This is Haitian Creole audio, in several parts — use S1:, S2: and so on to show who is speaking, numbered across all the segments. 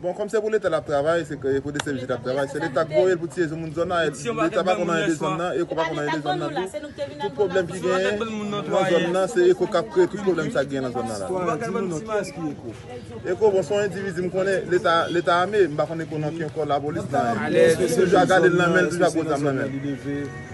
S1: Bon kòm se pou leta lap travay se k pou dcpj tap travay se leta k voye l pou tiye sou moun zòn nan et leta pa konn anyen de zòn nan eko pa konn anyen de zòn nan tou tout pwoblèm ki genyen nan zòn nan se eko kap kreye tout pwoblèm sa k genyen nan zòn nan la eko bon se yon endividi m konnen leta leta ame m pa konn eko nan ken kò lapolis nan men toujou a gade l nan men l toujou a gwo zam nan men l.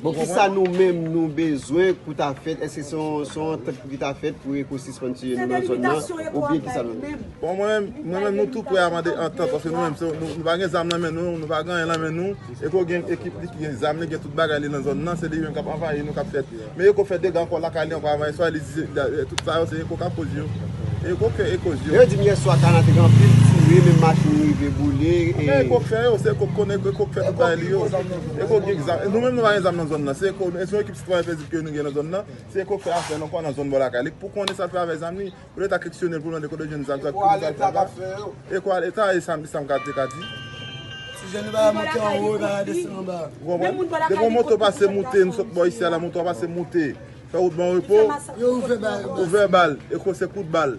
S1: Bon kisa nou menm nou bezwen pou ta fèt eske se yon se yon antant pou ki ta fèt pou eko sispann tiye nou nan zòn nan oubyen kisa nou menm. Bon mwen menm mwen menm nou tou prè a mande antant paske nou menm se yon nou pa gen zam nan men nou nou pa gen anyen nan men nou eko gen ekip li ki gen zam li gen tout bagay li nan zòn nan se li menm kap anvayi nou kap fèt men eko fè dega ankò lakay li ankò anvayi swa li di se tout sa yo se eko kap koz yo eko fè eko yo. Lè yo dim yèswa kana te gen anpil tire menm machin rive boule e. Eko fè yo se eko k konnen eko k fè tout bagay li yo. Eko gen zam, nou menm nou pa gen zam nan zòn nan, se Eko, se yon ekip ti travay pèzib ke nou gen nan zòn nan, se Eko k fè afè l ankò nan zòn bò lakay li, pou konnen sa l fè avèk zam li, pou leta keksyonnen l pou l mande kote l jwenn zam sa, pou ki sa l fè sa, Eko a leta, e sa m ka te ka di. Ti jèn yo pa ka monte anwo, yo pa ka desann anba. Ou konprann? Depi yon moto pase moute, nou sot bò isi a la, moto a pase moute, fè wout ban repo, ouvè bal, Eko se kout bal.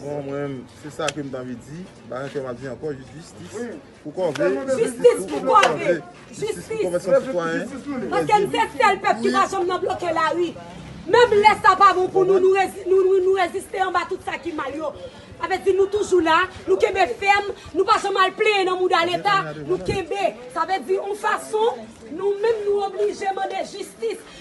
S1: Bon mwen menm se sa kem t anvi di, bagay ke map di ankò jis jistis pou kòve, jistis pou kòve, jistis pou konvèsyon sitwayen, paske n se sèl pèp ki pa janm nan bloke lari, menm lè sa pa bon pou nou nou reziste anba tout sa ki mal yo, sa vle di nou toujou la, nou kenbe fèm, nou pa janm al plenyen nan mouda leta, nou kenbe, sa vle di yon fason nou menm nou oblije mande jistis,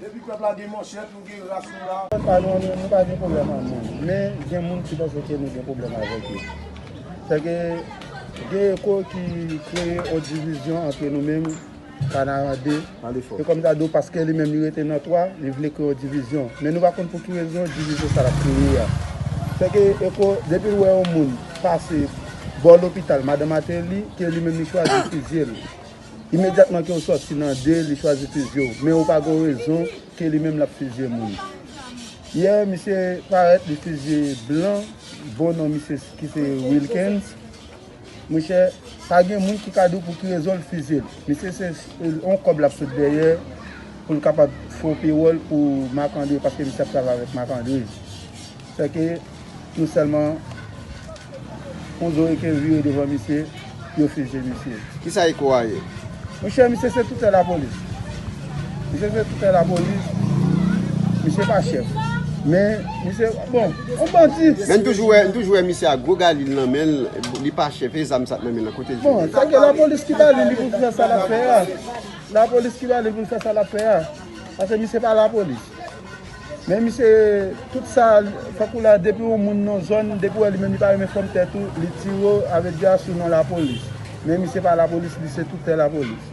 S1: Depi pèp la gen manchèt nou gen ras nou la. Pèp pa nou nou pa gen pwoblèm ak moun. Men gen moun ki panse ke nou gen pwoblèm avèk yo. Fè ke gen eko ki kreye yon divizyon antre nou menm
S2: Kanaran 2 e kòm Dadou paske li menm li rete nan 3 li vle kreye yon divizyon. Men nou pa konn pou ki rezon divizyon sa l ap kreye a. Fè ke eko depi l wè yon moun pase bò lopital Madan Mateli ke li menm li chwazi fizye l. Imedyatman ke ou sòti nan de li chwazi fizye w men ou pa gon rezon ke li menm lap fizye moun. Yè misye parèt li fizye blan bon non misye ki se Wilkens mon chè pa gen moun ki ka di w pou ki rezon l fizye l. Misye se yon kòb lap sot dèyè pou l kapab fè yon pewòl pou Marc André paske misye ap travay avèk Marc André. Fè ke nou sèlman yon zo eke vire devan misye, yo fije misye. Kisa eko a ye?
S3: Monchè misye
S2: se toutè lapolis. Misye se toutè lapolis. Misye pa chèf. Men misye, bon, yon bandi. Men nou toujou wè, nou toujou
S3: wè misye ak gwo galil nan menl, li pa chèf, e zam sa t nan menl lan kote l jwenn li? Bon, sa ke lapolis ki
S2: ba li li pou l fè sa lap fè a. Lapolis ki ba li pou l fè sa lap fè a. Pase misye pa lapolis. Men misye tout sa fòk ou la depi ou moun yon zòn depi ou wè li menm li pa renmen fòm tèt ou li tirew avèk dra sou non lapolis men misye pa lapolis li se tout tè lapolis.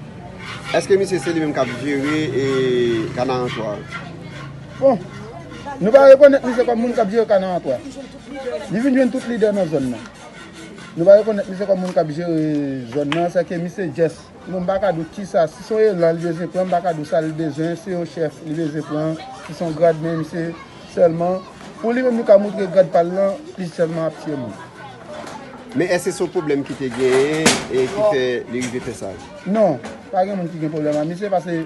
S2: Eske
S3: misye se li menm kap jere kanaran 3 an?
S2: Bon Nou pa rekonèt misye kòm moun kap jere kanaran 3 li vin jwenn tout lidè nan zòn nan Nou pa rekonèt misye kòm moun kap jere zòn nan sèke misye jès. Bon m pa ka di w kisa, si son elan li bezwen pran m pa ka di w sa li bezwen, se yon chèf li bezwen pran, si son grad men m se sèlman pou li menm li ka montre grad pa l lan li sèlman ap tiye moun.
S3: Men èske se yon pwoblèm ki te genyen e ki fè li rive fè sa? Non, pa gen
S2: moun ki gen pwoblèm ak misye pase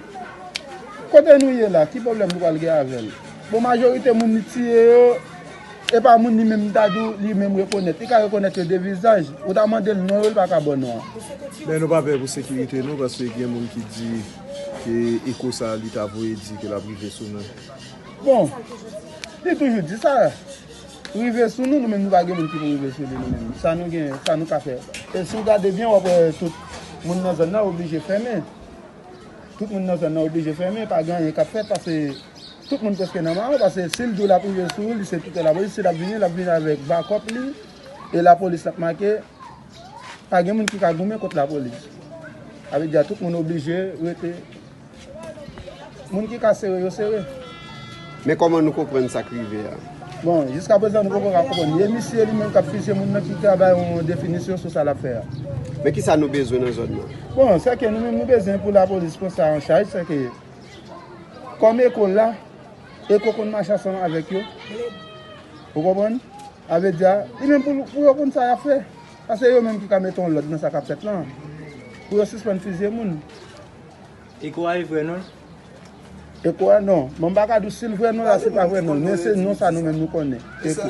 S2: kote nou ye la ki pwoblèm nou pral gen avè l? Bon majorite moun li tiye yo. E pa moun li menm m ta di w li menm rekonèt. Li ka rekonèt yo de vizaj. Ou ta mande l non yo, li pa ka ba w non an. Men nou pa pè
S1: pou sekirite nou paske gen moun ki di ke eko sa li ta voye di ke l ap rive sou nou. Bon,
S2: li toujou di sa. Rive sou nou, nou menm nou pa gen moun ki pou rive sou li nou menm. Sa nou gen, sa nou ka fè. E si w gade byen w ap wè tout moun nan zòn nan oblije fèmen. Tout moun nan zòn nan oblije fèmen. Pa gen anyen k ap fèt paske. Tout moun preske nan ma ou paske sil diw lap rive sou ou li se toutan lapolis sil ap vini lap vini avèk bakòp li e lapolis lap make pa gen moun ki ka goumen kont lapolis sa vle di a tout moun oblije rete moun ki ka sere yo sere. Men
S3: kòman nou konprann sak rive a? Bon jiska
S2: prezan nou poko ka konprann ni e misye li menm kap fizye moun nan ki ka bay yon definisyon sou sa lap fè a. Men kisa nou
S3: bezwen nan zòn nan? Bon sèke nou menm
S2: nou bezwen pou lapolis pran sa an chaj sèke. Kòm eko la, eko konn mache ansanm avèk yo. Ou konprann? Sa vle di a, li menm pou yo konn sa y ap fè. Sa se yo menm ki ka mete yon lòd nan sa k ap fèt lan. Pou yo sispann fizye moun. Eko
S4: a e vrè non l?
S2: Eko a, non. Bon, m pa ka di w si l vrè non l a, si l pa vrè non l. Men se non sa nou menm nou konnen. Eko.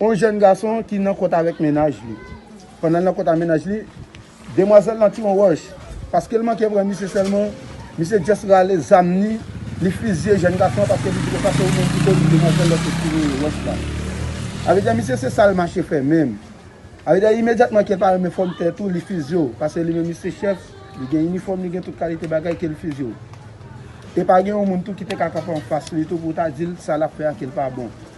S2: yon jèn gason ki nan kont avèk mennaj li. Pandan l nan kont avèk mennaj li, demwazèl lan tire yon wòch. Paske l manke pran misye sèlman, misye just rale zam ni, li fizye jèn gason an paske li di konsa se ou menm ki koz demwazèl lan te tire wòch la. A vle di misye se sa l mache fè menm. A vle di imedyatman ke l pa renmen fòm tèt ou, li fizye ou. Paske li menm li se chèf, li gen inifòm, li gen tout kalite bagay ke l fizye ou. E pa gen yon moun tou ki te ka kanpe anfas li tou pou ta di l sa l ap fè a ke l pa bon.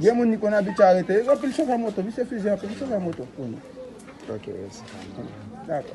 S5: Gen
S3: moun li konn
S2: abitye arete. Yo anpil chofè moto. Misye fizi anpil chofè
S3: moto.
S2: Ok mèsi. Dakò.